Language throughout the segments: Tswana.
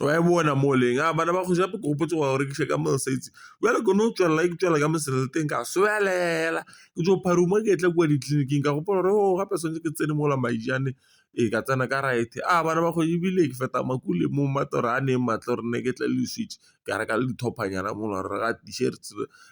wa e bona mo o leng, a bana ba go ja ke gopotse go ya go rekisa ka mangwe sa itse jale ke no tswelela ke tswela ka mosela le teng ka swelela ke jo pharuma ke etla kwa ditleliniking ka gopola gore o gape santse ke tsene mola maijane e ka tsena ka right a bana ba go ebile ke feta makule mo mmatoro a neng matlho re ne ke tle le . ka reka le di-top-a nyana mo gare ga t-shirt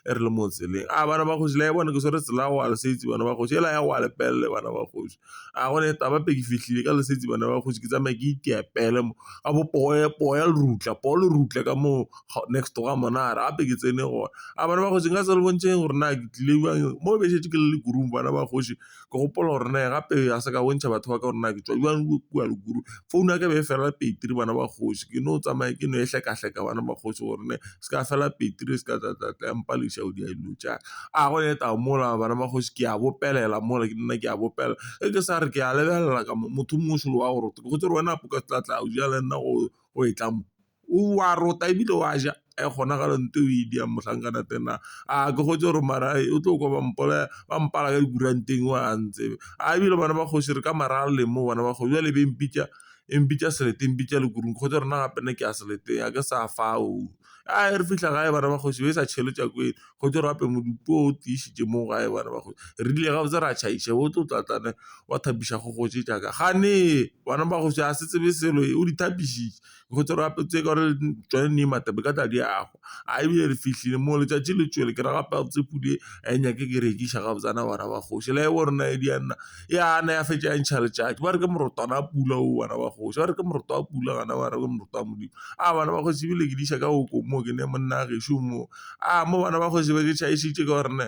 e re le mo tseleng, a bana ba kgosi la e bone ke tshwere tsela wa lesetsa bana ba kgosi ela ya wa lepelle bana ba kgosi, a gone taba ke fitlhile ka leseditse bana ba kgosi ke tsamaya ke iteya pele mo ka bo poye poye le rutla poo le rutla ka moo next to ga monna a re gape ke tsene gone, a bana ba kgosi nka se le bontsheng gore na ke tlile jang mo be setse ke le le kudu bana ba kgosi. ke gopola gore ne gape a se ka bontšha batho ba ka gore na ke tswa jang ko kwa Lukuru, founu ya ka e be e fela peteri bana ba kgosi ke no tsamaya ke no e hlekahleka bana ba kgosi gore ne se ka fela peteri se ka tlatlatla ya mpa lešao di a dilo tša a go eta mola bana ba kgosi ke a bopelela mola ke nna ke a bopela e ke sa re ke a lebelela ka motho mongwe selo wa gore ke gotse gore wena apo ka tlatla o ja le nna go e tla mo. o a rota ebile o a ja e gona ga lente o e di yang motlhankana tena a ke gotse gore mara o tlo kwa bampolaya ba mpala ka dikuranteng o a ntsebe a ebile bana ba kgosi re ka mara a lemo bana ba kgosi jale be mpitsa e mpitsa selete mpitsa le kurung kgotsa rena gape ne ke a seleteng a ke sa fa o a re fitlha gae bana ba kgosi ba sa tšhele tswa ko kgotsa re ape modumo o tiisitse mo gae bana ba kgosi re dile ga botse re a tšhaisa o tlo tlatlana wa thabisa go gotse jaaka gane bana ba go se a se tsebe selo o di thabisitse. go tse gape tse ka tsone ne mathata ka tla di a go a ebile re fitlhile mo letsatsi le tswele ke raya gore tse podi a e nyake ke rekisa ga botsana bana ba kgosi le bo rona e di a nna e ana ya fetsa ntšha letsatsi ba re ke morotwana a pula o bana ba kgosi ba re ke moroto a pula kana ba re ke moroto wa modimo a bana ba kgosi ebile ke di isa ka o ko moo ke ne monna a gešo moo a mo bana ba kgosi ba ke tšhaisitse ka gore ne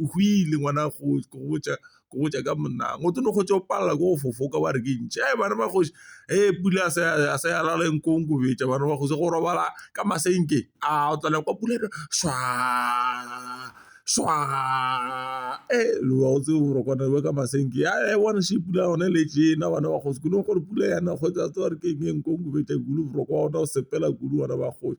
o go ile ngwana go go botsa go botsa ka monang o tlo go tšwa palela go fofoka wa re ke ntšhe e bana ba kgosi e pula a se a se ala le nkong go betsa bana ba kgosi go robala ka masenke a o tlala kwa pula e swa swa e lo wa o tse o re kwana ba ka masenke ya e bona se pula one le tšena bana ba kgosi kuno gore pula yana go tsa tsa re ke eng nkong go betsa gulu boroko ona o sepela gulu bana ba kgosi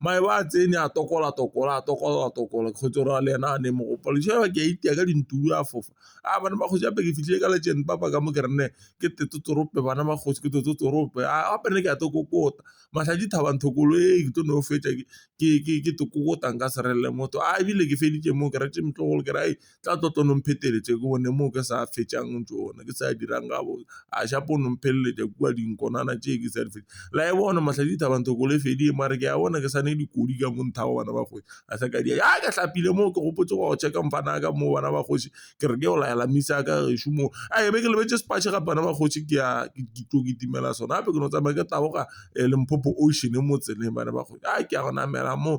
mae ba a tsene a tokola tokola a tokola tokola kgotsa o raya le ena a neng mo gopolo ke a itia ka dintlo a fofa a bana ba kgosi gape ke fitlhile ka legend papa ka mo ke re nne ke totorope bana ba kgosi ke totorope a gape ne ke a to kokota matlhaji thaba nthokolo e ke tlo no fetsa ke ke ke ke kokota nka se relele motho a ebile ke feditse mo ke retse motlogolo ke re a tla tlo tlo nong pheteletsa ke one moo ke sa fetšang ntho one ke sa dirang ka bone a shapo o nong pheleletsa kwa dinkonana tse ke sa di fetsa la e bone matlhale di thabang thoko le fedile mare ke a bona ke sane dikodi ka montha wa bana ba kgosi a sa ka di a ke tlhapile moo ke gopotse go check-a mfana ka moo bana ba kgosi ke re ke o laela misa ka re shumo a e be ke lebetse sepatšhe ga bana ba kgosi ke ya ke tlo ke timela sona gape ke no tsamaya ke taboga e leng phopho ocean mo tseleng bana ba kgosi a ke a go namela moo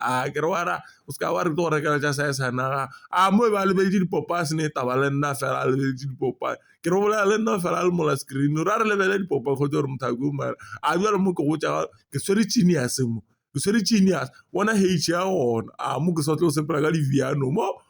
a kere wara o seka wa re tlo go rekela ja sa e sanaga a mo e ba lebeletse dipopa se ne e taba le nna fela a lebeletse dipopa ke re bolela le nna fela a le mola screen ra re lebele dipopa kgotsa gore motho a ke omara a jalo mo ke go tsa ke swere chini ya semo ke swere chini ya bona hage ya gona a mo ke sa tlo sepela ka diviano mo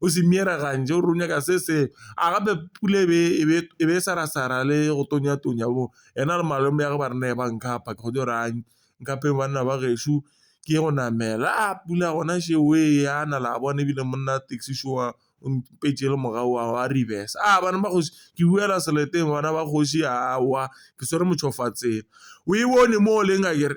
o se mira kanje o runya ka se se a gape pula e be e be e be sa ra sa ra le go tonya tonya bo ena le malome ya go ba rena e ba nka apa ke go jo rang nka pe banna ba gešo ke go namela a pula gona še o e ya na la bona e bile monna taxi seo a o mpetje le morago wa go a reverse a bana ba kgosi ke buela seleteng bana ba kgosi a wa ke swere motšhofatsela o e bone mo o leng a kere.